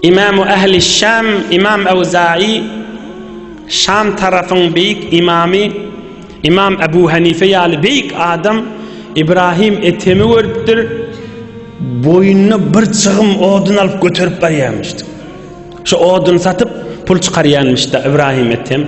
Imam Ähli Şam Imam Awza'i Şam tarapyň beýik imamy Imam Abu Hanife ýaly beýik adam Ibrahim Etemi görüpdir. Boýnuna bir çygym odun alyp göterip barýarmyşdy. Şu odun satyp pul çykarýanmyşda Ibrahim Etem.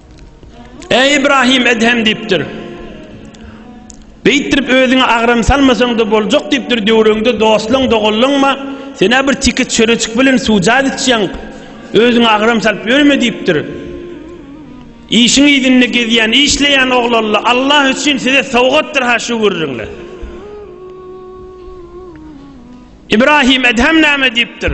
Eý Ibrahim Edhem diýipdir. Beýtdirip özüňe agram salmasaň-da boljak diýipdir, döwrüňde dostlaň, doganlaňma, sen bir tiki çöreçik bilen suwjat içýäň, özüňe agram salyp ýörme diýipdir. Işiň ýüzünde gezýän, işleýän oglanla Allah üçin size sowgatdyr ha şu gürrüňle. Ibrahim Edhem näme diýipdir?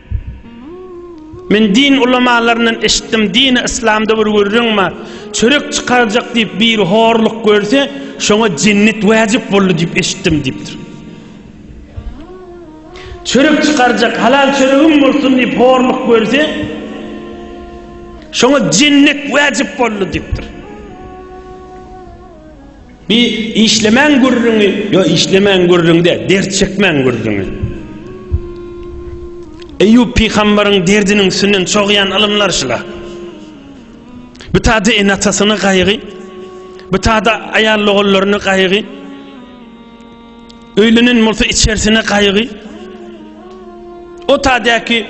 Men din ulamalaryndan eşitdim, dini yslamda bir gürrüň bar, çörek çykarjak diýip biri horluk görse, şoňa jennet wajyp boldy diýip eşitdim diýipdir. Çörek çykarjak, halal çöregim bolsun diýip horluk görse, şoňa jennet wajyp boldy diýipdir. Bi işlemäň gürrüňi ýo işlemäň gürrüň däl dert çekmäň gürrüňi. Eýýup pygambaryň derdiniň üstünden çogýan ylymlar şula. Bu tada ene atasyny gaýgy, bu tada aýal ogullaryny gaýgy. Öýlenen bolsa içersine gaýgy. O tadäki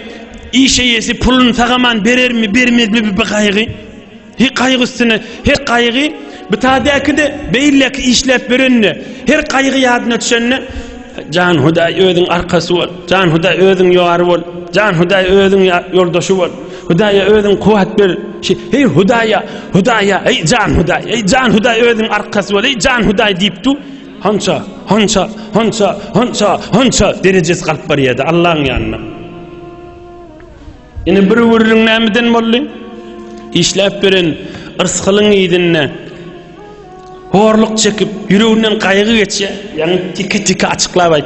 iş eýesi puluny sagaman berermi, bermezmi bir gaýgy. He gaýgy üstüne, he gaýgy bu tadäki-de beýleki işläp berende, her gaýgy ýadyna düşende Jan Hudaý özüň arkasy bol. Jan Hudaý özüň ýary bol. Jan Hudaý özüň ýoldaşy bol. Hudaýa özüň kuwat ber. Hey Hudaýa, Hudaýa, hey Jan Hudaý, hey Jan Hudaý özüň arkasy bol, hey Jan Hudaý diýip dur. Hança, hança, hança, hança, hança derejesi galyp barýardy Allaň ýanyna. Ine bir gürrüň nämeden boldy? Işläp beren yrsgylyň yzynda horluk çekip, ýüreginden gaýgy geçýär. Ýaňy tiki-tiki açyklap aýt.